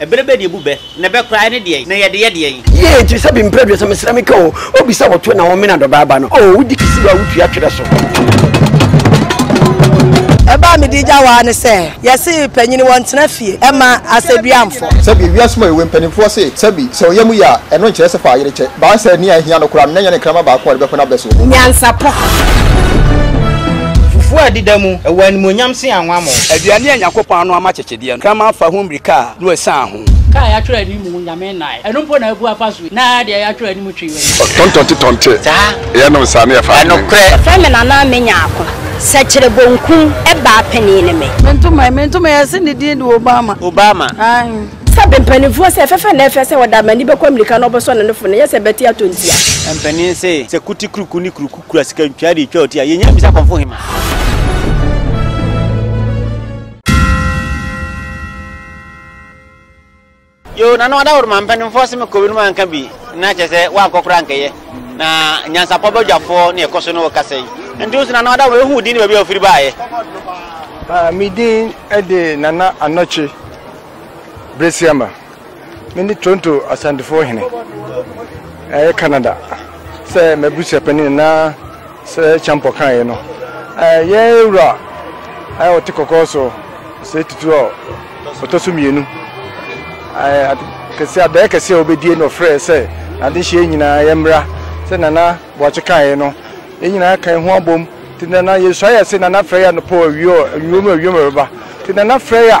Ɛbere bɛ na ebu bɛ, na ɛbɛ koraa ɛne deɛn, na yɛde yɛ deɛn? Yie enti sɛ bi mprɛ aduasa mesrɛ me ka o obi sɛ wɔto na wɔmena dɔbaa ba no oo wodi kisi wa wotua twerɛ so. ɛbaa me di gya waa ne sɛ yɛse panyini wɔn tena fie ɛma asɛduamfo. sɛbi ewiase mu ayɛwɛ mpanimfoɔ se sɛbi sɛ ɔyɛ mu yɛ a ɛno nkyerɛ sɛ fa ayere kyɛ baa sɛ nea ɛhia no koraa no na ɛnyɛ ne nkrama baako a ɔde bɛpɔn abɛ so. nyansapɔ. fufuo a ɛdeda mu ɛwɔ animuonyam se anwammɔ. aduane a nyakopɔn ano ama kyekye. Deɛ nkraman fa ho mmirika a, Noa sian ho. Ka a yɛatwerɛ anim Onyame nnae. Ɛno mpo na abu afa so yi. Na deɛ yɛatwerɛ anim twe w'ani. Ɔtontonte tɔnte, yɛnom saa na yɛfa adwene. Ɛnokorɛ. Yɛfrɛ me Nana a menya ako. Sɛkyerɛ bonkum baa panin ne me. Mentom ɛ, mentom ɛ, yɛse ne din de Obama. Obama. Aane. Sɛ be mpaninfoɔ se ɛfɛfɛ na ɛfɛ sɛ ɔda amani bɛkɔ amirika na ɔbɛsɔ ne nofo no ɛnyɛ sɛ bɛte atɔ ntia. Mpanin se sɛ kuti kuruku ne kuruku kura sika ntwea de twa ɔti a, yɛnya bisa kɔmfo hema. yo na no ada woro ma mpanimfoɔ se mekɔ binom anka bi na kyɛ sɛ woankɔ koraa nkɛyɛ na nyansapɔ bɛdwafoɔ ne ɛkɔ so no wɔkasa yi nti nso na no ada woro ɛhu din ne baabi a wofiri baayɛ ah, medin de nana anɔkye berɛsiama Mene Toronto Asantefoɔ hene ɛyɛ Canada sɛ m'abusuapanin na sɛ Champɔ kaeɛ no yɛn wura a ɔte kɔkɔɔ so sɛ tutu a ɔtɔ so mmienu kɛse adaeɛ kɛse a wɔbɛdie na ɔfrɛ sɛ adehyeɛ nyinaa yɛmmra sɛ Nana Boakye kaeɛ no yɛn nyinaa kan ho abom nti Nana yɛsua yɛ se Nana frɛ yɛ anɔpɔ awie ɔ awiom awiom ɛbɛba nti Nana frɛ yɛ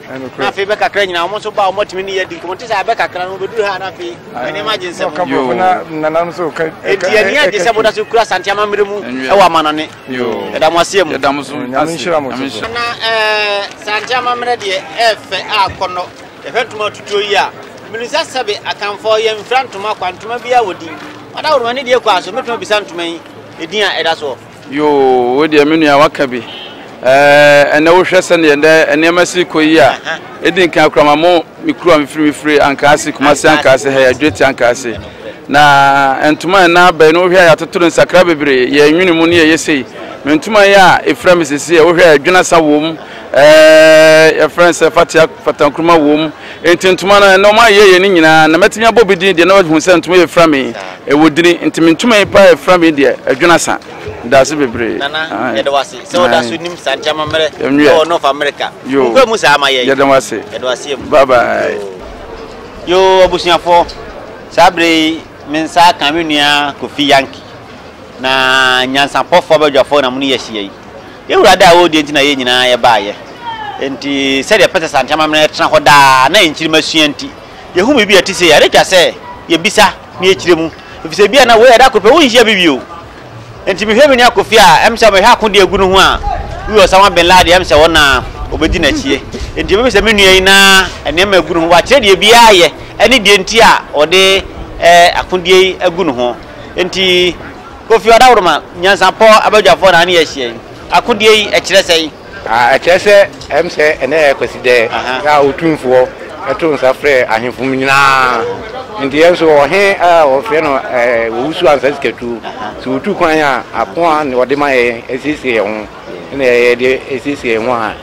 Na afei bɛ kakra nyinaa wɔn nso baa wɔn atumi ne yɛ di nkɔmɔ nti sɛ abɛ kakra no wɔbɛduru ha na afei nneɛma agye nsɛm nti ani agye sɛ moda so kura asante amammerɛ mu ɛwɔ amanɔne ɛda mo aseɛ mu na sante amammerɛ deɛ ɛɛfɛ a kɔnɔ yɛhwɛ ntoma atutuo yi a mene sɛ sɛbe akanfoɔ yɛmfira ntoma kwa ntoma biaa wɔ din ada woroma ne deɛ kɔ a so mɛtumi bisa ntoma yi ɛdin a ɛda soɔ Yoo, wo deɛ me nua waka bi. Ɛɛ, ɛnnɛ wohwɛ sɛdeɛ ɛnnɛ nneɛma si rekɔ yi a, ɛdi nkan koraa ma mo me kuru a mefiri me firi Ankaase, Kumasi Ankaase ha yi, Adwireti Ankaase. Na ntoma a ɛnna aba yi no wohwɛ a yɛatoto no nsakra bebree, yɛnwene mu ne yɛyɛ sei. Me ntoma yi a ɛfira me seesei a wohwɛ a ɛdwene asa wɔ mu. Ɛɛɛ yɛfrɛ no sɛ fatea fata nkruma wom nti ntoma no ɛnɛ ɔmo ayɛ yɛ ne nyinaa na mɛtumi abɔ bi din deɛ na wahu sɛ ntoma yɛ fira mi ɛwɔ dini nti me ntoma yi paa ɛfira mi deɛ ɛdwene asa daase bebree nana yɛde wase sɛ ɔda so nim saa nti ama mmerɛ ɛwɔ North America nkɔ mu saa ama yɛ yɛde wase yɛde wase mu bye bye yoo abusuafoɔ saa bere yi me nsa aka me nua Kofi Yankee na nyansapɔfoɔ abadwafoɔ na mo ne yɛ ahyia yi Y'Awurade a ɔwɔ deɛ nti na yɛn nyinaa yɛbaeɛ. Enti sɛdeɛ ɛpɛ sɛ Asante amammerɛ tena hɔ daa na nkyirima sua nti, yɛhu biribi a ɛte sei a, na ɛtwa sɛ yɛbisa na yɛkyerɛ mu. Ɛfiri sɛ ebia na wei a ɛda koro pɛ wonhyia bi bio. Enti mehwɛ me nua Kofi a, ɛm sɛ mehwɛ akodeɛ a ɛgu ne ho a, woi Osama Bin Laden, ɛm sɛ ɔno ara, ɔbɛdi n'akyie. Enti ɛbɛyɛ sɛ me nua yi na nneɛma a ɛgu ne ho, wakyerɛ deɛ biara yɛ ne deɛ nti a ɔde akodeɛ yi agu ne ho. Enti. Kofi Ɔdaworoma, nyansapɔ abadwafoɔ na ne yɛ ahyia yi. Akodie yi, ɛkyerɛ sɛn? Ah, ɛkyerɛ sɛ ɛm sɛ ɛnɛ yɛ Kwasidɛ a Otumfoɔ to nsa frɛ ahemfo mu nyinaa. Nti yɛn nso ɔhe a wɔfrɛ no Owusu Ansah Sikatuo, sɛ ɔtu kwan a, ako a ɔde ma yɛn asiesie yɛn ho na yɛde asiesie yɛn ho a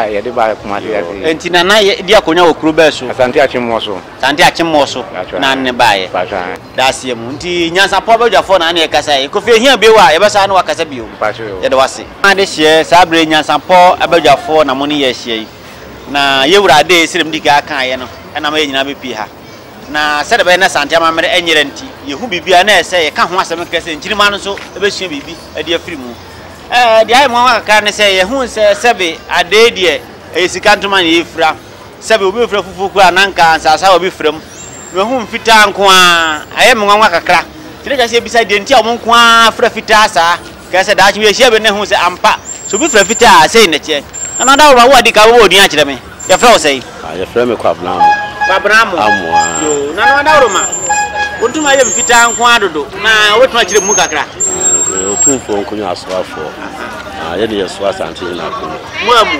yɛde ba Kumase ase yi. Nti Nana di akonnwa wɔ kuro bɛn so? Asante Akyemmoɔ so. Saa nti akyemmɔɔ so na ne baeɛ. Daaseɛ mu nti nyansapɔ badwafoɔ na ne yɛkasaeɛ. Kofi ɛhia bio a yɛbɛsan ne wo akasa bio. Yɛda wo ase. Adehyeɛ saa berɛ yi nyansapɔ badwafoɔ na mo ne yɛn ahyia yi. Na yɛn wura Adee sɛdeɛ medi kan kaeɛ no ɛnam yɛn nyinaa bɛpue ha. Na sɛdeɛ ɛbɛyɛ na Asante amammerɛ ɛnyera nti yɛhu biribiara na ɛyɛ sɛ yɛka ho asɛm kɛkɛ sɛ Nkyirimma no nso bɛsua biribi de afiri mu. Deɛ ayɛ me nwanwa kakra ne sɛ yɛhuu sɛ sɛbe Adee deɛ ɛyɛ sika ntoma na yɛfira. Sɛbe obi mfrɛ fufuw koraa a, na anka ansaase a obi frɛ mu. Mahu mfitaa nko ara. Ayɛ me nwanwa kakra. Nti na ɛsɛ sɛ yebisa deɛ nti a wɔn nko ara frɛ fitaa saa. Kae sɛ daakye bi yehyia bi na ehu sɛ ampa, sɛ obi frɛ fitaa a, sei na ɛteɛ. Nana Daworo, wo a di kan wobɔ wo din akyerɛ me, yɛfrɛ wo sɛn? Ah, yɛfrɛ me Kwabena Amoh. Kwabena Amoh. Amoh, ah. Yoo, Nana Daworo ma. Wotumi ayɛ mfitaa nko ara dodo, na wobɛtumi akyerɛ mu kakra? Ah, Otumfoɔ Nkonyo Asoafoɔ. Aha. Ah, yɛne yɛsoa Asantehene Akonyo. Moamu.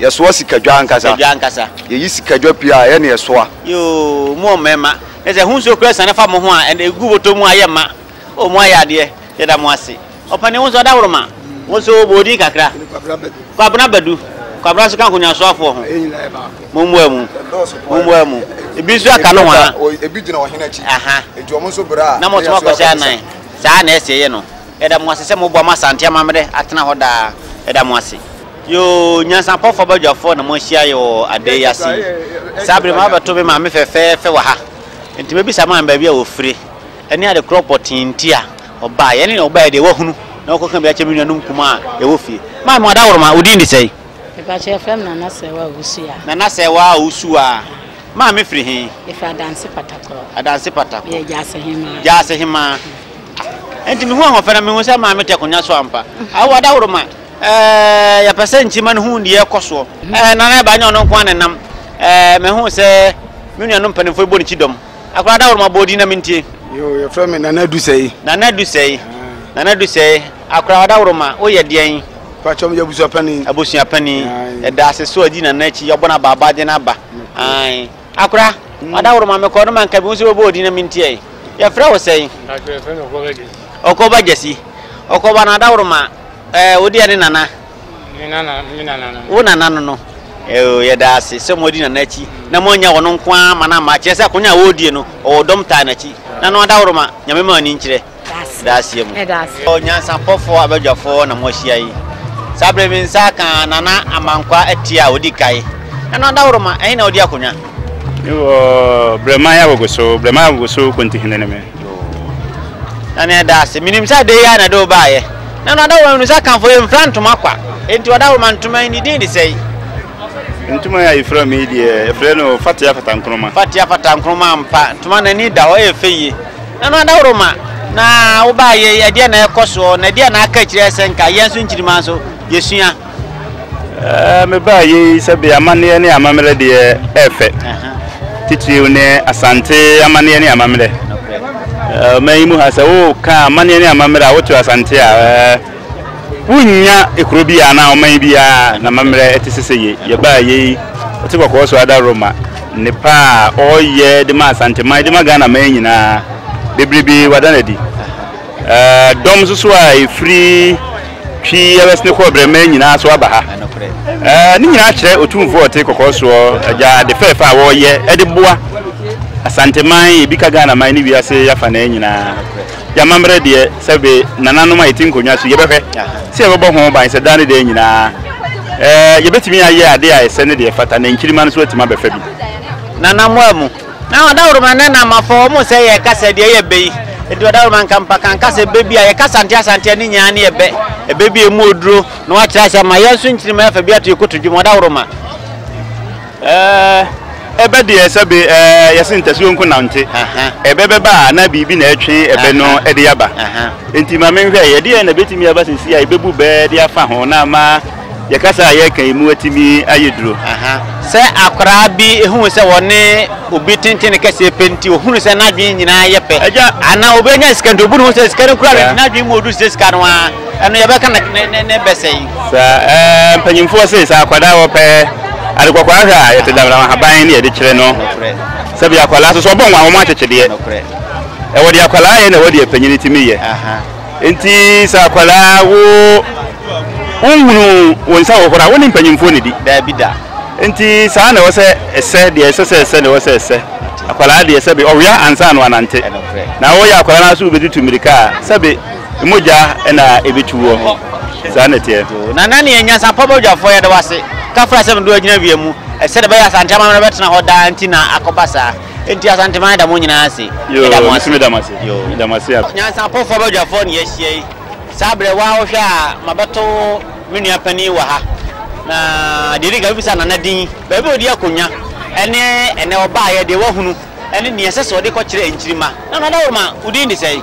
Yɛsoa sikadwa ankasa. Sikadwa ankasa. Yɛyi sikadwa pii a, ɛyɛ na yɛsoa. Yoo, mo mmarima. Kyerɛ sɛ, ho nsuo koraa asiane afa mo ho a, ɛnna ɛgu bɔtɔ mu a, ayɛ ma. O, moayɛ adeɛ. Yɛda mo ase. Ɔpanin, wo nso, Adaworoma. Wo nso, bɔ wo din kakra. Mene Kwabena Badu. Kwabena Badu. Kwabena nso ka nkonyaasoafoɔ ho. Yɛn nyinaa yɛ baako. Mommoa mu. Ɛdɔɔso paa. Mommoa mu. Ebi nso aka no hwaa. Ebi gyina ɔhene akyi. Aha. Enti wɔn nso bra a, na yɛsoa kɔto nsa. Na mo nso moakɔhyɛ anan. Saa na ɛsɛ yɛyɛ no. Yɛda mo ase sɛ moboa ma Asante amammerɛ atena hɔ daa. Yɛda mo ase. Yoo, nyansapɔfoɔ badwafoɔ na moahyia yɛ wɔ adɛɛ yi ase yi. Saa bere mabɛto me maame fɛfɛɛfɛ wɔ ha, enti mɛbisa maame baabi a wɔfire, ɛne ade korɔ pɔtee nti a ɔbaeɛ, ɛne nea ɔbaeɛ deɛ wahunu na wakɔka bi akyerɛ me nuanom nkumaa a yɛwɔ fie. Maame wɔda woroma, wo din de sɛn? Mepakyɛ yɛfrɛ me Nana Sɛɛwaa Owusuaa. Nana Sɛɛwaa Owusuaa, maame firi he? Yɛfiri Adanse Patakorɔ. Adanse Patakorɔ. Yɛ Gyaase Hemaa. Gyaase Hemaa. Enti mihuu ahoɔfɛ na mihuu sɛ Maame te akonnwa so ampa. Awowa dahoroma, eh, yɛpɛ sɛ nkyima no hu nea ɛrekɔ soɔ. Eh, na na ɛba nyɛ ɔno nko ara na ɛnam. Eh, mehuu sɛ me nuanom mpanimfoɔ rebɔ ne ti dɔm. Akwadaa dahoroma bɔɔ din na mentie. Yoo, yɛfrɛ me Nana Dusɛi. Nana Dusɛi. Nana Dusɛi, akwadaa dahoroma, woyɛ deɛn? Pakyɛ, meyɛ abusuapanin. Abusuapanin. Aye. Yɛda ase sɛ woadi Nana akyi, yɛabɔ no abaabaadeɛ no aba. Aye. Akora, ɔdaworo ma me kɔ no ma nka ebinom nso bɛbɔ wo din na mintiae. Yɛfrɛ wo sɛn? Akora, yɛfrɛ me Ɔkɔba Gyasi. Ɔkɔba Gyasi. Ɔkɔba no adaworo ma ɛɛ wo deɛ ne nana. Me nana, me nana no. Wo nana no no. Ɛɛ yɛda ase sɛ moadi nana akyi na moannya ɔno nko ara ma no amma. Kyerɛ sɛ akonnwa a ɔredie no, ɔwɔ dɔm taa n'akyi. Nana adaworo ma, Nyame ma w'ani nkyerɛ. da aseɛ mu. Onyansapɔfoɔ abadwafoɔ na moahyia yi. Saa berɛ me nsa aka Nana Amankwa Atie a ɔdi kae. Nana Dawuroma, ɛhe na wodi akonya? Me wɔ Brɛman Agogoso, Brɛman Agogoso Kontihene ne me. Nana yɛda ase. Menim sɛ adeyɛ ara na ɛde wo baeɛ. Nana Dawuroma menim sɛ Akanfoɔ yɛmfira ntoma kwa. Enti Ɔdawuroma ntoma yi ne din de sɛn? Ntoma yi a yɛfira me yi deɛ, yɛfrɛ no fatea fatankroma. Fatea fatankroma ampa. Ntoma no ani da hɔ, ɛyɛ fɛ yie. Na no adaworo ma. Na wobaa yɛ ɛdeɛ na ɛkɔ soɔ, na ɛdeɛ na aka akyire ɛsɛ nka. Yɛn nso nkyirima nso, yɛsua. Ɛɛ, mebaa yɛ yi sɛbe amanneɛ ne amammerɛ deɛ ɛyɛ fɛ. Titiriw ne Asante amanneɛ ne amammerɛ. Ɔman yi mu ha, sɛ woka amanneɛ ne amammerɛ a, woto Asante a, ɛɛ. Wonnya kuro biaa anaa ɔman biaa namammerɛ ɛte sese yei. Yɛbaa yei ɔte kɔkɔɔ so ada Roma nnepa a ɔyɛ de ma Asanteman de ma Ghana man nyinaa bebrebe wada no adi. Dɔm nso so a ɛfiri Twi, West ne kɔɔ Brɛma nyinaa nso aba ha. Ne nyinaa kyerɛ Otumfoɔ a ɔte kɔkɔɔ soɔ agya ade fɛɛfɛ a ɔyɛ de boa Asanteman, Ebika Ghana man ne wiase afanaa nyinaa. Y'amammerɛ deɛ sɛbe nananom a yɛte nkonnwa so yi, yɛbɛhwɛ sɛ yɛbɛbɔ ho ban sɛ daa ne daa nyinaa eh, yɛbɛtumi ayɛ adeɛ a ɛsɛ ne deɛ ɛfata na nkyirimma no nso atumi abɛfa bi. Nanammoa mu. Na Ɔdawuroma ne Namafo, wɔn sɛ yɛ kasa deɛ yɛ bɛ yi. Enti Ɔdawuroma nka mpa kan kasa ɛbɛ bi a yɛ kasa nte asanteɛ ne nyinaa ne yɛ bɛ. Ɛbɛ bi a ɛmu oduro na wakyerɛ ase ama yɛn nso nkyirimma yɛfa bi ato yɛ koto dwom. Ɔdawuroma. Ɛɛ, ɛbɛ deɛ sɛ be ɛɛ yɛse ntasuo nko na nte, ɛbɛ bɛba a na biribi na ɛtwe ɛbɛ no de aba. Enti ma menhwɛ, ɛdeɛn na ɛbɛtumi aba seesei a yɛbɛbu bɛ de afa ho na ama yɛn kasa a yɛreka yi mu atumi ayɛ duro? Sɛ akwadaa bi hunu sɛ ɔne obi tenten no kɛseɛ pɛ nti, ɔhunu sɛ n'adwene nyinaa yɛ pɛ, anaa obi anya sika nti, ɔbu ne ho sɛ sika no kura no nti n'adwene mu ɔduru sɛ sika no ara, ɛno yɛbɛka ne bɛ sɛn? Sɛ mpanyimfoɔ se sɛ akwadaa a wɔpɛ ade kɔkɔɔ ahwɛ a, yɛte damdam ahaban ne yɛde kyerɛ no. Sɛbi akwadaa nso sɛ ɔbɔ nwa a, wɔn akyekyedeɛ. Ɛwɔ deɛ akwadaa yɛ na ɛwɔ deɛ panyin tumi yɛ. Nti sɛ akwadaa wo wonhunu wo nsa hohoro a, wo ne mpanyimfoɔ na di. Daabi da. Nti saa na ɛwɔ sɛ ɛsɛ deɛ ɛsɛ sɛ ɛsɛ na ɛwɔ sɛ ɛsɛ. Akwadaa deɛ sɛbi ɔwea ansa na wanante. Na wɔyɛ akwadaa no ara so wobɛtutu mmirika a, sɛbi. Mogya na ɛbɛtu wɔ ho. Saa na ɛteɛ. Yoo, na na neɛ Nyansapɔ Badwafoɔ yɛda wo ase. Kafra sɛ medo agyina wia mu. Sɛdeɛ ɛbɛyɛ Asante amammerɛ bɛtena hɔ daa nti na akɔba saa. Nti Asanteman da mo nyinaa ase. Yoo, Yɛda mo me nso ase. meda mo ase. Yoo. Meda mo ase app. Nyansapɔfoɔ Badwafoɔ na yɛahyia yi. Saa berɛ wo ara wohwɛ a mabɛto me nua panin wɔ ha. Na deɛ ɛdi kan mɛbisa Nana din, baabi a ɔdi akonnwa ɛne ɛnɛ ɔbaeɛ, deɛ wahunu ɛne deɛ ɛsɛ sɛ ɔde kɔkyerɛ nkyirimma. Nana Dawuruma, wo din de sɛn?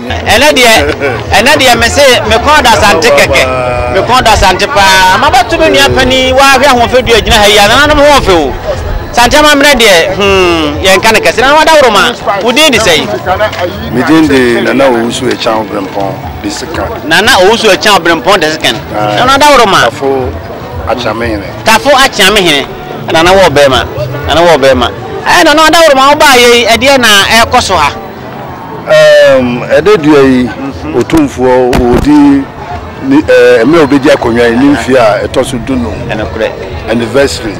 Ɛnɛ deɛ, ɛnɛ deɛ mese mekɔn adasante kɛkɛ, mekɔn adasante paa. Mabɛto me nua panin waa hwɛ ahoɔfɛ du agyina ha yi a, nananom ho ɔfɛ o. Sante amammerɛ deɛ, hmm, yɛnka no kɛse. Nana Wadaworoma, wo din de sɛn? Me din de Nana Owusu Akyan Obirɛmpɔn Desekan. Nana Owusu Akyan Obirɛmpɔn Desekan. Nana Wadaworoma. Tafo Akyeamehene. Tafo Akyeamehene. Nana wɔ bɛrima, Nana wɔ bɛrima. Ɛɛ Nana Wadaworoma, wobaayɛ yi, ɛdeɛn na ɛrekɔ so ha? Ɛdɛ dua yi, Otumfoɔ ɔredi mmerɛ a ɔbɛdi akonnwa yi ne mfeɛ a ɛtɔ so du num anniversary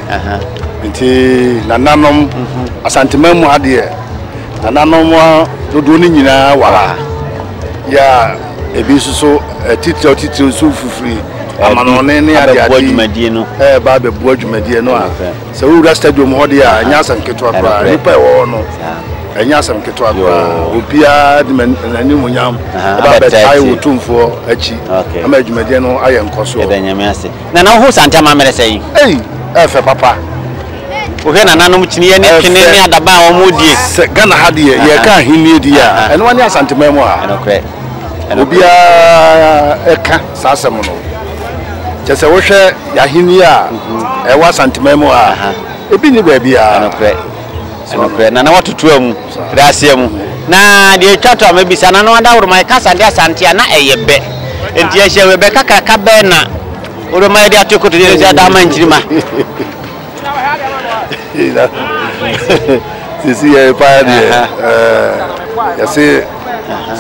nti nananom Asanteman mu ha deɛ nananom dodoɔ no nyinaa wɔ ha yɛ a ebi nso so atitiriw atitiriw nso fifiri amanɔne ne adeade ɛreba abɛboa dwumadie no a Sɛ wowura stadium hɔ deɛ a, ɛnyɛ asɛm ketewa koraa. Nnipa ɛwɔ hɔ no, ɛnyɛ asɛm ketewa koraa. Obiara de n'animuonyam ɛba abɛtae wo tumfoɔ akyi ama adwumadeɛ no ayɛ nkɔsoɔ. Yɛda Nyame ase. Nana wohu Santɛm ammerɛ sɛn? Ei! Ɛfɛ papa. Wohwɛ nananom kyiniiɛ ne twene ne adaban a wɔn die. Sɛ Ghana ha deɛ yɛka ahennie deɛ a, ɛnoa ne Asanteman mu ha. Ɛnokorɛ. Obiara ɛka saa asɛm no. kyɛ sɛ wohwɛ yɛahenni a ɛwɔ asanteman mu a ebi nni baabiara ɛnokorɛ na na watotoa mu da aseɛ mu na deɛ ɛtwa to a mɛbisa na no adaworoma ɛkasa de asante a na ɛyɛ bɛ nti ɛhyɛ wɔ ɛbɛ kakraka bɛɛ na woroma yɛde ato koto yɛde sɛ ada ama nkyirima sisi yɛ pa deɛ yɛse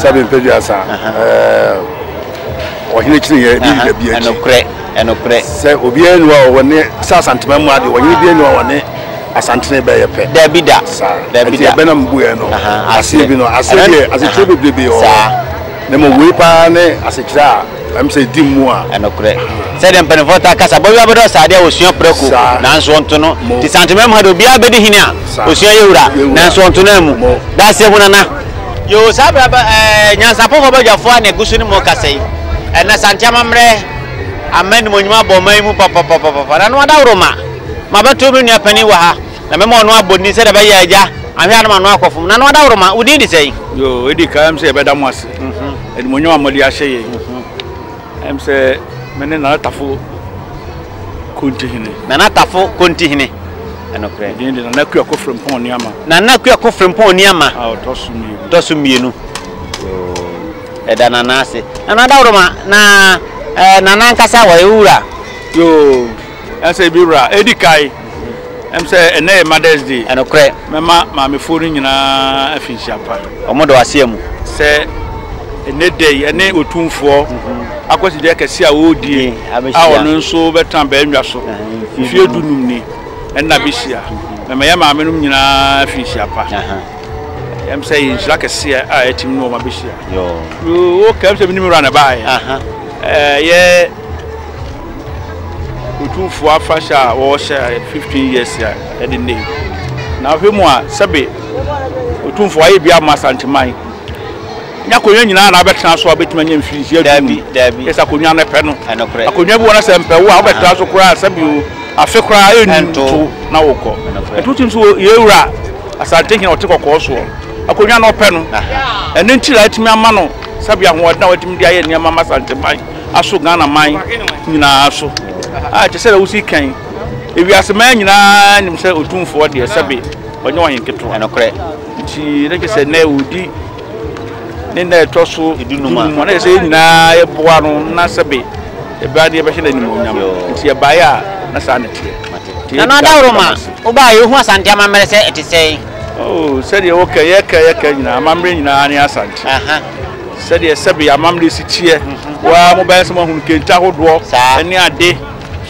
sɛbe mpɛ duasa ɔhene kyiri yɛ ne yida bi akyi ɛnokorɛ ɛnokorɛ sɛ obiara ni hɔ a ɔwɔ ne sɛ asantema mu adeɛ ɔhene biara ni hɔ a ɔwɔ ne asantene bɛyɛ pɛ dabi da saa dabi da ɛbɛna mu buɛ no aseɛ bi no aseɛ deɛ asekyerɛ bebrebe wɔ ne mu wei paa ne asekyerɛ a Ɛm sɛ di mmu a. Ɛnokorɛ. Sɛdeɛ mpaninfoɔ taa ka sɛ, abɔyewa bɛdɔ saa adeɛ a ɔsua prɛko, nanso ɔnto no. Nti Santomɛm ha deɛ obiara bɛdi hene a ɔsua yawura, nanso ɔnto no ammu. Daaseɛ hunu ana? Yoo, saa berɛ aba ɛɛ, nyansapofoɔ badwafoɔ a na ɛgu so no mu kasa yi. Ɛnnɛ Santea amammerɛ ama animuonyam abɔ ɔman yi mu papapapapa. Na Noah Dawuroma, mabɛto me nua panin wɔ ha, na mɛma ɔno abɔ din sɛdeɛ ɛbɛyɛ a agya anhwɛ a na Manoah akɔfom. Na Noah Dawuroma, wo din de sɛn? Yoo, ɛdi kan ɛm sɛ yɛbɛda mo ase. Animuonyam a mode ahyɛ yɛn yi. Ɛm sɛ me ne Nana Tafo Kontihene. Nana Tafo Kontihene. Ɛnokorɛ. Medin de Nana Kwiako Frempɔn Oniama. Nana Kwiako Frempɔn Oniama. A ɔtɔ so mmienu. Ɔtɔ so mmienu. Yoo. Ɛda Nana ase. Nana Dawuroma, na ɛɛ Nana ankasa wɔyɛ wo wura? Yoo. Ɛsɛ bi wura. Edi kae, ɛm sɛ ɛnɛ yɛ Mother's Day. Ɛnokorɛ. Mɛma maamefoɔ no nyinaa afinhyia pa. Wɔn dɔ aseɛ mu. Sɛ ɛnɛ da yi ɛne Otumfoɔ akwasidie kɛseɛ a ɔredie a ɔno nso bɛtena bɛnnwa so mfeɛ du num ni, ɛnna bɛhyia. Mɛma yɛn maame nom nyinaa afinhyia pa. Ɛm sɛ ɛyɛ nhyira kɛseɛ a ɛtim ne wɔn abɛhyia. Yoo, okay, ɛm sɛ menim wura na ɛbaeɛ. Ɛyɛ. Otumfoɔ afahyɛ a wɔhyɛ 15 years a ɛde nnɛ yi. Na ahwɛ mu a sɛbe Otumfoɔ ayɛ bi ama Asanteman. Nya akonnwa nyinaa na abɛtena so a wobɛtumi anya mfirinhyia du. Daabi. Ɛsɛ akonnwa no pɛ no. Ɛnokorɛ. Akonnwa bi wɔ no sɛ mpɛ wo a wobɛtena so koraa sɛbe o afe koraa ɛnto na wokɔ. Ɛnokorɛ. Ɛnti wotim nso yɛwura Asante hene ɔte kɔkɔɔ soɔ. Akonnwa no ɔpɛ no. Ɛno nti na atumi ama no sɛbe ahoɔden a watumi de ayɛ nneɛma ama Asanteman. aso Ghana man nyinaa so. Aye, te sɛ deɛ wosi kan, ewiase man nyinaa nim sɛ Otumfoɔ deɛ, sɛbe ɔnyɛ ɔhen ketewa. Ɛnokorɛ. Nti na kyerɛ sɛ nnɛ ɔredi ne nna a ɛtɔ so dunum a, na kyerɛ sɛ yɛn nyinaa yɛboa no na sɛbe yɛbɛba na yɛbɛhyɛ no animuonyam. Nti yɛbaeɛ a, na saa na ɛteɛ. Nti Nana yɛda Daworo ma, Ghana so. wobaeɛ a, wohuu Asante amammerɛ sɛ ɛte sɛn? Oh, sɛdeɛ woka yi, yɛka a yɛka nyinaa, amammerɛ nyinaa ne Asante. Aha. Sɛdeɛ sɛbe amammerɛ si teɛ, waa mobɛyɛ sɛ moahunu kente ahodoɔ ne ade,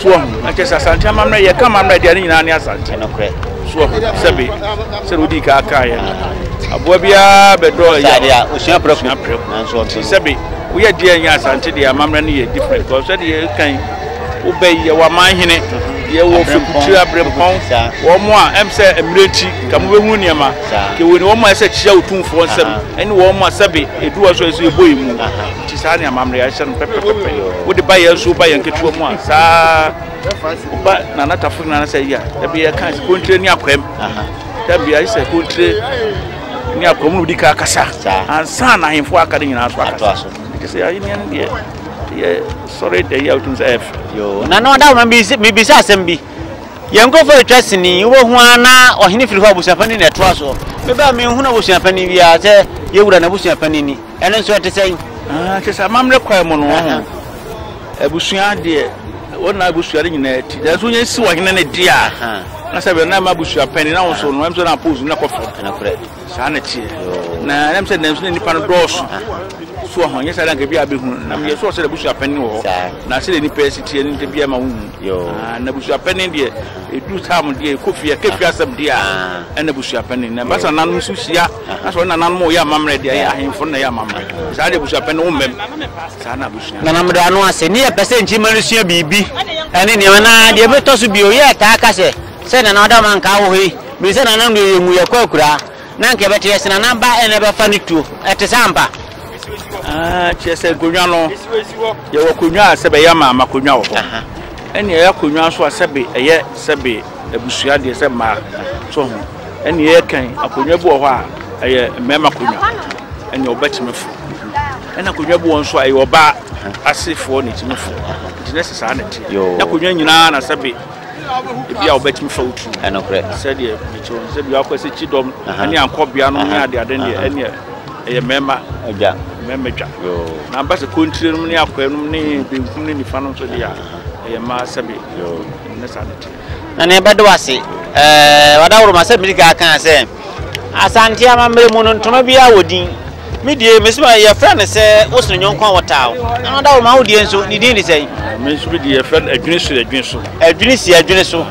so ahu. Na kyerɛ sɛ Asante amammerɛ, yɛka amammerɛ deɛ ne nyinaa ne Asante, so ahu. Sɛbe, sɛdeɛ wodii ka kaeɛ no, aboa biara bɛdɔ ɛyɛ osua prɛko, nti sɛbe woyɛ deɛ ɛnyɛ Asante deɛ amammerɛ no yɛ different, because sɛdeɛ yɛka yi, wobɛ yi, yɛwɔ amanhene, yɛwɔ Fekukyire, Abrempɔn, wɔn a ɛm sɛ mmerɛ nti, nka mobɛhunu nneɛma. Nti wei no wɔn a ɛsɛ ɛkyia otumfoɔ nsam ɛne wɔn a sɛbe ɛduru wɔn so ɛsɛ yɛbɔ yɛn mu. Nti saa ne amammerɛ a ɛhyɛ no pɛpɛpɛpɛ. Wode ba yɛn so woba yɛn ketewa mu a saa woba Nana Tafo nyinaa sɛ yɛ a dabi yɛka sɛ kontire ne akwam. Dabi ayɛ sɛ kontire ne akwam no di ka akasa ansa na ahemfo aka ne nyinaa so akasa. Nti sɛ ahenni no deɛ yɛ sɔre da yi a wotum sɛ ɛfɛ. Yo, na na ɔda mebisa asɛm bi. Yɛn nkurɔfoɔ retwa sini, wobɛhu ara na ɔhene firi hɔ a abusua panin na ɛtoa soɔ. Meba a menhunu abusua panin biara sɛ yɛn wura n'abusua panin ni. Ɛno nso ɛte sɛn? Ah, kyerɛ sɛ amammerɛ kwan mu no, ɔho abusua deɛ wɔn na abusua no nyinaa ti. Nanso yɛn si ɔhene no di a, na sɛ bɛn na ɛma abusua panin na wɔn so no, ɛm sɛ na apose no kɔ fam. Saa na ɛteɛ. Na na mesɛ nam so na nnipa no dɔɔso. So ɔho nyɛ saa na nka bi a bɛhu. Na meyɛ so ɔsɛ dɛ abusua panin wɔ hɔ. Na sɛ dɛ nnipa ɛsi teɛ no nti bi ama wo hu. Na abusua panin deɛ ɛduru tam deɛ ɛkɔ fie ɛka fie asɛm deɛ a ɛna abusua panin. Na basa nanom nso hyia. Na sɛ ɔne nananom ɔyɛ amammerɛ deɛ ɛyɛ ahemfo no na ɛyɛ amammerɛ. Saa deɛ abusua panin wo mmam. Saa na abusua. Na na meda ano ase. Ne yɛ pɛ sɛ nkyima no sua biribi ɛne nneɛma na deɛ ɛbɛtɔ so bio yɛ taa ka sɛ. Sɛ Nana Adam anka wɔ hɔ yi, mini sɛ Nana Ndoye mmu yɛ kɔ akuraa, na anka ɛbɛte yɛ se Nana ba na ɛbɛfa ne tuo. Ɛte saa ampa? Ah, kyerɛ sɛ nkonnwa no, yɛwɔ akonnwa a sɛbe ɛyɛ amaama akonnwa wɔ hɔ, ɛne ɛyɛ akonnwa nso a sɛbe ɛyɛ sɛbe abusua deɛ sɛ mmaa so ho, ɛne ɛyɛ kan akonnwa bi wɔ hɔ a ɛyɛ mmarima akonnwa, ɛne ɔbɛtumi fo, ɛna akonnwa bi wɔ nso a ɛyɛ ɔbaa asefoɔ na ɛtumi fo, nti na ɛsɛ saa na ɛte, na akonnwa nyinaa na sɛbe Ebia wobɛtumi fa wo tirim. Ɛnokorɛ. Sɛdeɛ mekyerɛ no sɛ bi wakɔ sɛ kyidɔm ne ankɔbea no ne adeade no deɛ ɛneɛ ɛyɛ mmarima dwa. Mmarima dwa. Na ba sɛ kontire nom ne akwaa nom ne benkum ne nifa nom nso deɛ a ɛyɛ mmaa sɛbe. Ne saa ne teɛ. Na nea ɛbɛde wo ase. Ɛɛ wadaworoma sɛ mede kan kaa sɛ. Asante amammerɛ mu no, ntoma biara wɔ din. Me die, me soma yɛfrɛ no sɛ wo sene nyɔnko a wɔtaa wo. Ɛno da wo ma wo deɛ nso, ne din de sɛn? Me nso me deɛ yɛfrɛ no adwini so adwini so. Adwini si adwini so.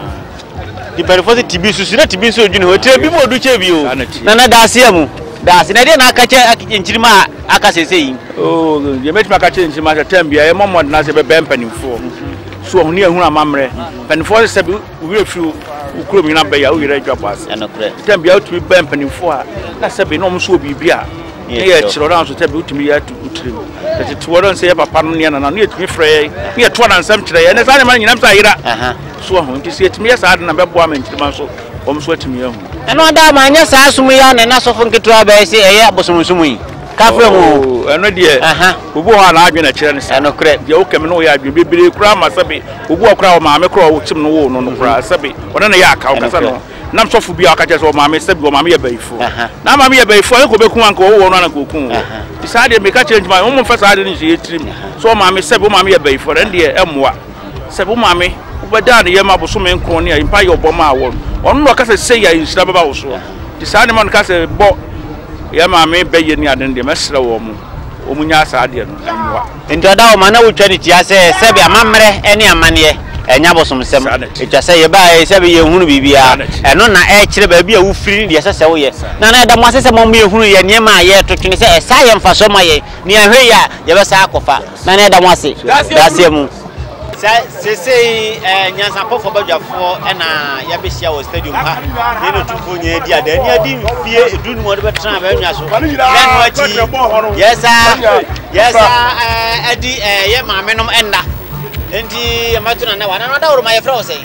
Di mpanimfoɔ sɛ tibi susu na tibi nso adwini hɔ. Tire bi mu ɔdu kyɛ bio. Na na daase a mu. Daase. Na ɛdeɛ na aka kyɛ nkyirima a aka sɛsɛ yi? Oh, deɛ mɛtumi aka kyɛ nkyirima sɛ tɛm biara yɛmmɔ mmɔden ase bɛbɛn mpanimfoɔ. So ɔhone ahunu amammerɛ. Mpanimfoɔ sɛ sɛ Wo werɛ firi wo kurom nyina bɛyɛ a, wo yere adwa bɔ ase. Ɛnokorɛ. Tam bia wotumi bɛ mpanimfoɔ a, na sɛbe na wɔn nso wɔ biribi a, ne yɛ kyerɛ wɔn nso sɛbe wotumi yɛ ato wotiri mu. Ɛtete wɔn nso yɛ papa no ne yɛ nana no yɛtumi frɛ yɛ ne yɛto anansɛm kyerɛ yɛ ne saa nneɛma no nyinam sɛ ayera. So ahu nti sɛ yɛtumi yɛ saa de na bɛboa ma nkyirimma nso wɔn nso atumi ahu. Ɛno ada ma anyɛ saa som yi a na ɛna sɔfo nketewa bɛyɛ sɛ ɛyɛ abosomsom yi. Kafra mu. Oh, ɛno deɛ obi hɔ a n'adwene na kyerɛ ne saa. Ɛnokorɛ. Deɛ wokɛme no woyɛ adwene bebree koraa ma sɛbe Obi wɔ koraa a ɔmaame koraa a ɔkyem no woo no no koraa sɛbe ɔne no yɛ aka ɔkasa no nam sɔfo bi a ɔka kyerɛ sɛ ɔmaame sɛbe ɔmaame yɛ bayifo na maame yɛ bayifo a ɛnka ɔbɛku wo anka ɔwowɔ no anka ɔku wo nti saa deɛ meka kyerɛ nti ma wɔn mfa saa ade no nhyɛ yɛ tirim sɛ ɔmaame sɛbe ɔmaame yɛ bayifo ɛn deɛ ɛmmoa sɛbe ɔmaame wobɛdaa ne yɛ ma bosome nkron ne a mpa yɛ ɔbɔ maa wɔn ɔno na ɔka sɛ sɛ yɛ nhyira bɛba wo soɔ nti saa nneɛma no ka sɛ bɔ yɛ maame bɛyɛ ne ade no deɛ mɛsrɛ wɔn wɔn nyɛ saa adeɛ no ɛmmoa. Enti ɔda hɔ ma na wotwa no tia sɛ sɛbe amammerɛ ne amanneɛ ɛnyɛ abosomsɛm. Etwa sɛ yɛbaa ha yi sɛbe yɛnhunu biribiara. Ɛno na na ɛkyerɛ baabi a wofiri ne deɛ ɛsɛ sɛ woyɛ. Na na ɛda mo ase sɛ moama yɛahunu yɛn nneɛma a yɛreto twene sɛ ɛsaa yɛ mfasoɔ ma yɛn. Nea ɛhwɛ yie a, yɛbɛsan akɔfa. Na na ɛda mo ase. Daaseɛ mu. Sɛ sesei ɛyɛ nyansapɔfoɔ badwafoɔ na yɛabɛhyia wɔ stadium ha ne no tumfoɔ nyinaa adi ada ani adi mfie edu no mu ɔde bɛtena abɛnwa so na ɛno akyi yɛsa yɛsa adi ɛyɛ maame nom ɛnna nti yɛmɛto na nɛ wa na no adaworo ma yɛfrɛ wo sɛn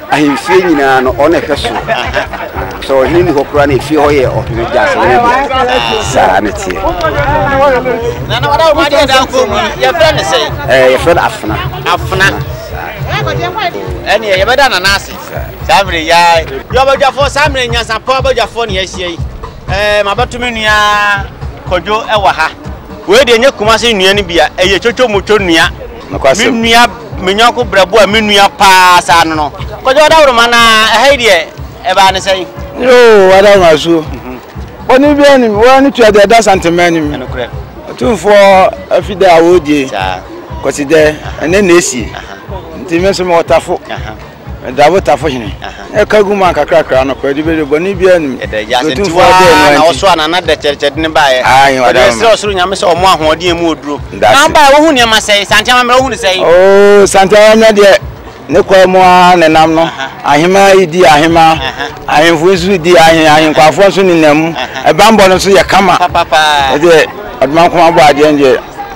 Ahemfie nyinaa no, ɔno na ɛhwɛ so. Sɛ ɔhene ni hɔ koraa na efie hɔ yɛ ɔhene gyasene dea. Saa ne teɛ. Na na ɔda wɔn adeɛ da nkɔn mu yi, yɛfrɛ ne sɛn? Ɛɛ yɛfrɛ no afena. Afena. Ɛneɛ yɛbɛda nana ase saa mmerɛ yi ara. Yɛ ɔbadwafoɔ saa mmerɛ nyansapɔ abadwafoɔ ne yɛahyia yi. Ɛɛ mabɛto me nua Kwadwo wɔ ha. Wei deɛ nyɛ Kumase nnua no bi a, ɛyɛ kyokyo motwo nnua. Nokwasɛm. Me nua, me yɔnko berɛboɔ a me nua paa saa no no. Kwadwo Adawroma na ɛha yi deɛ ɛbaa ne sɛn? Yoo Adawroma asuo. Bɔne biara nim, wo ara ne tua deɛ ɛda Santema anim. Ɛnokorɛ. Atumfoɔ afi dɛ a wɔredie, Saa. Kwasida, ɛnɛ na ɛsie. Aha. Nti me nso mewɔ Tafo. Aha. Ɛda abotafo hene ne ka gu mu ankakrakra no kɔ, ɛde bɛ de bɔne biara nnim. Ɛda agya sɛ nti hɔ ara na wɔso a na na dɛkyɛdɛkyɛde no baeɛ. Wɔde bɛsrɛ ɔsoro Nyame sɛ ɔmmoa ahoɔden a ɛmu wɔ duro. Na wobaeɛ wohu nneɛma sɛn? Sante amammerɛ wohu no sɛn? Oo, Sante amammerɛ deɛ ne kwae mu ara na ɛnam no. Ahemaa yi di ahemaa, ahemfo nso di ahen, ahenkwafoɔ nso nenam mu. Ɛbammɔ no nso yɛ kama. Ɛdeɛ ɔdoma nkoma bɔ adeɛ no deɛ.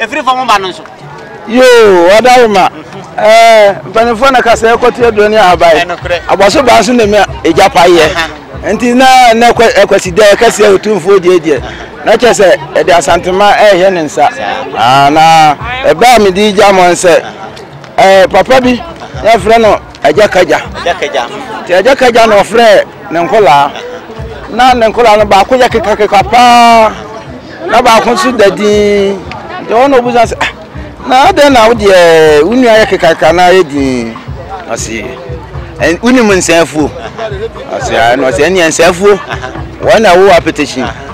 Ɛfiri fam ba no nso. Yoo, ɔdarima. Ɛɛ, mpanimfoɔ na kasa ɛkɔte aduane ahabae. Abɔso baa nso na ɛmɛ ɛgya pa yɛ. Nti na na ɛkwasi dɛ ɛkɛse a ɔtumfoɔ deɛ deɛ. Na kyɛ sɛ ɛde asantema ɛhɛ ne nsa. Na ɛbaa me di gya mɔ nsɛ. Ɛɛ, papa bi, yɛfrɛ no. Agya kagya. Agya kagya. Nti agya kagya na ɔfrɛ ne nkɔlaa. Na ne nkɔlaa no baako yɛ kekakeka paa na baako nso da din. Nti wɔn na obusa sɛ ah na adɛn na wo deɛ wo nua yɛ kekakeka na ayɛ din. Ɔsi wonim nsɛnfuo. Ɔsi ɛna ɔsi ɛneɛ nsɛnfuo wɔn na ɛwɔ apɛtɛkyi.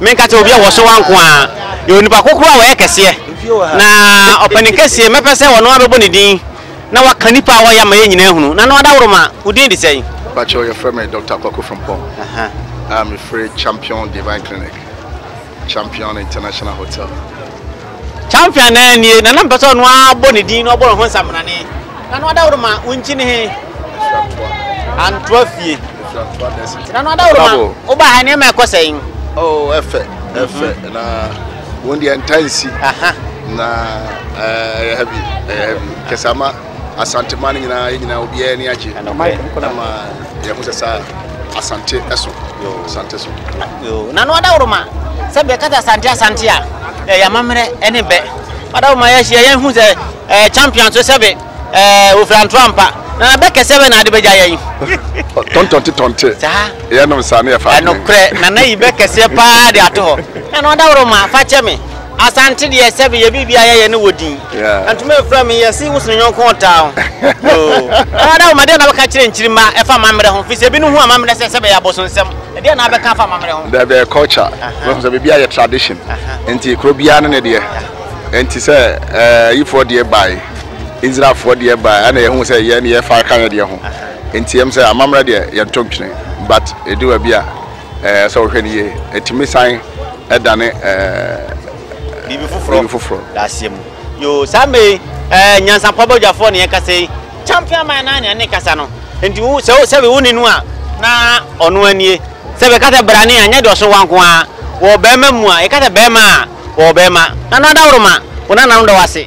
Menka sɛ obi a wɔso wa nko ara yɛ onipa kokoro a ɔyɛ kɛseɛ, na ɔpanin kɛseɛ mɛpɛ sɛ ɔno ara bɛbɔ ne din na waka nnipa a wɔyɛ ama yɛn nyinaa ahunu. Nana Ɔdaworoma, wo din de sɛn? Mpakyɛw, wɔfrɛ me Doctor Kwaku Frimpong a mefiri Champion Divine Clinic, Champion International Hotel. Champion naa nie na na mpɛ sɛ ɔno ara bɔ ne din na ɔbɔ ne ho nsamanane na no adaworo ma wonkyi ne he antoa fie na no adaworo ma woba ha nneɛma ɛkɔ sɛn oh ɛfɛ ɛfɛ mhm. na wɔn deɛ ntansi na ɛyɛ eh, heavy ɛyɛ eh, heavy kɛsama Asanteman no nyinaa, yɛn nyinaa obiara ani agye. Ɛma yɛn ho sɛ saa Asante so, Asante so. Yoo, na no adaworoma sɛ bɛka sɛ Asante Asante a, ɛyɛ amammerɛ ɛne bɛ. Adaworoma yɛahyia yɛn hu sɛ ɛɛ champion so sɛbe ɛɛ ofira ntoa mpa. Na bɛ kɛsɛ bɛ na ade bɛgya yɛn. Tɔntɔnte tɔnte. Saa. Yɛnom saa ne yɛfa. Ɛnokorɛ, nana yi bɛ kɛseɛ paa de ato hɔ. Na no adaworoma fa kyɛ me. Asante deɛ sɛ beyɛ biribi a yɛ yɛ ne wɔ din ntoma mfra me yɛ se wo sene yɔnko ɔtaa ho yoo ɛna da wo ma deɛ na bɛka kyerɛ nkyiri ma ɛfa amammerɛ ho firi sɛ ebi no hu amammerɛ sɛ sɛ bɛyɛ abosonsɛm ɛdeɛ na bɛka fa amammerɛ ho. Dabi ɛyɛ culture bɛhu sɛ biribi a yɛ tradition nti kuro biara ne ne deɛ nti sɛ ɛɛ yifoɔ deɛ bae Israelfoɔ deɛ bae ɛna yɛ hu sɛ yɛn yɛ fa ka yɛ deɛ ho nti yɛm sɛ amammerɛ deɛ yɛn to ntwene but ɛdu baabi a. Sɛ wɔhwɛ no yie, ɛtumi san dane biribi foforɔ. Daseɛ mu. Yoo, saa mmerɛ yi, ɛɛ nyansapɔ badwafoɔ ne yɛkasa yi. Champion man naa nea ne kasa no. Nti wo sɛ sɛbi wo ne no a, na ɔno anie. Sɛ bɛka sɛ brane a, nyɛ deɛ ɔso wa nko ara. Wɔ bɛɛma mu a, yɛka sɛ bɛɛma a, wɔ bɛɛma. Nana Daworo ma wo nananom da wo ase.